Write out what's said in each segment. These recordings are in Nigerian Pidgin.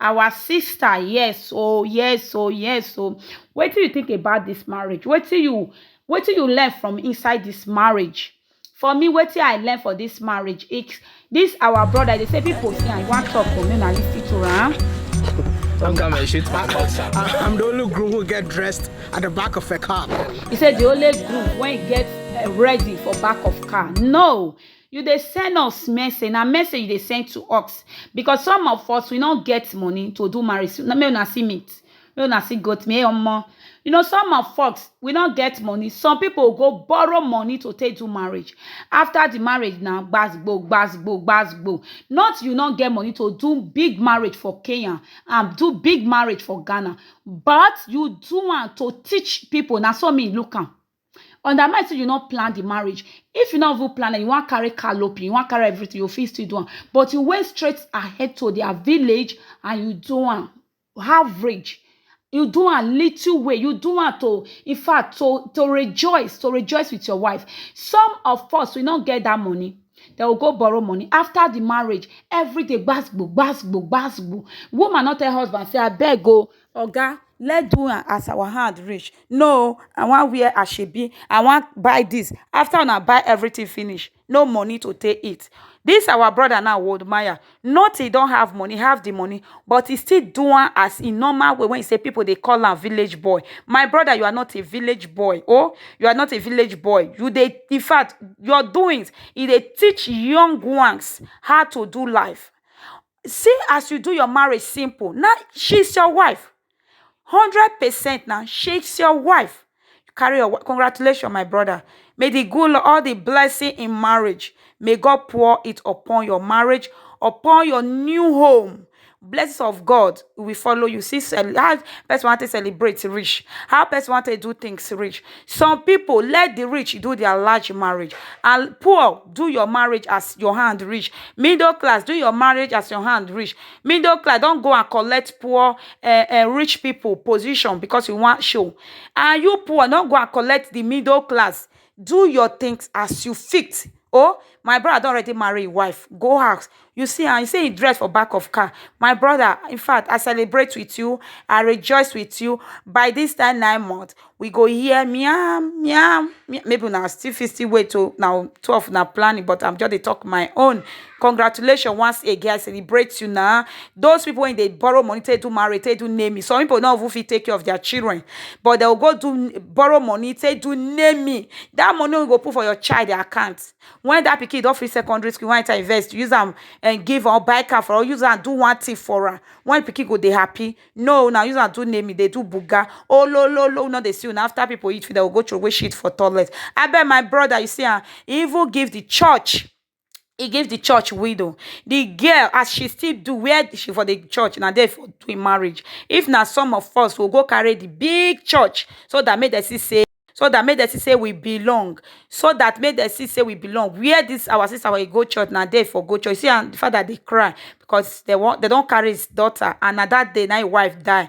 our sister yes oh yes oh yes oh wetin you think about this marriage wetin you wetin you learn from inside this marriage for me wetin i learn for this marriage it's this our brother they say people see and one talk for me na lis ten to am. Don't come and shoot my boss. I, I'm the only groom who get dressed at the back of a car. he said the only groom when he get uh, ready for back of car no You dey send us message, na message you dey send to us because some of us we no get money to do marriage so make una see meat, make una see goat meat omo. You know some of us we no get money, some pipu go borrow money to take do marriage, after di marriage na gbas gbos, gbas gbos, gbas gbos. Not you no get money to do big marriage for Kenya and do big marriage for Ghana but you do am to teach pipu, na so me look am. undermine say you no plan the marriage if you no even plan and you wan carry calopi you wan carry everything you fit still do am but you went straight ahead to their village and you do am average you do am little way you do am to in fact to to rejoice to rejoice with your wife some of us we no get that money they will go borrow money after the marriage every day gbasgbo gbasgbo gbasgbo woman no tell husband say abeg o Oga let do am as our hand reach no I wan wear asoebi I wan buy this after una buy everything finish no money to take eat this our brother now would maya not he don't have money he have the money but he still do am as he normal way wey he say people dey call am village boy my brother you are not a village boy o you are not a village boy you dey infact your doings e dey teach young ones how to do life See as you do your marriage simple na she's your wife hundred percent na she's your wife you carry your wife congratulations my brother may the good lord all the blessing in marriage may god pour it upon your marriage upon your new home blessings of god will follow you see how person wan take celebrate reach how person wan take do things reach Some people let the rich do their large marriage and poor do your marriage as your hand reach. Middle class do your marriage as your hand reach. Middle class don go and collect poor uh, uh, rich people position because you want show. And you poor don go and collect the middle class. Do your things as you fit. oh my brother don already marry im wife go house you see am you see im dress for back of car my brother in fact i celebrate with you i rejoice with you by this time nine months we go hear meow meow meow maybe una still fit still wait o na two of una planning but i'm just dey talk my own congratulations once again i celebrate you na those people when they borrow money take do marriage take do naming some people no even fit take care of their children but they will go do borrow money take do naming that money wey you go put for your child their account when that pikin don finish secondary school when e invest use them and give or buy car for or use them do one thing for her when pikin go they happy no now use them do naming they do buga oh lo lo lo no they see you now after people eat food they will go throw away shit for toilet I bet my brother you see am even give the church he give the church widow. The girl, as she still do where she for the church, na there for doing marriage. If na some of us, we'll go carry the big church so that make them see say so that make them see say we belong so that make them see say we belong where this our sister wey go church na there for go church see am the father dey cry because they want they don carry his daughter and na that day na him wife die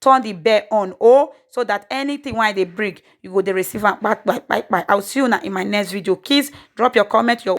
turn the bell on oh so that anything wey i dey bring you go dey receive am kpai kpai kpai kpai i will see una in my next video kids drop your comment your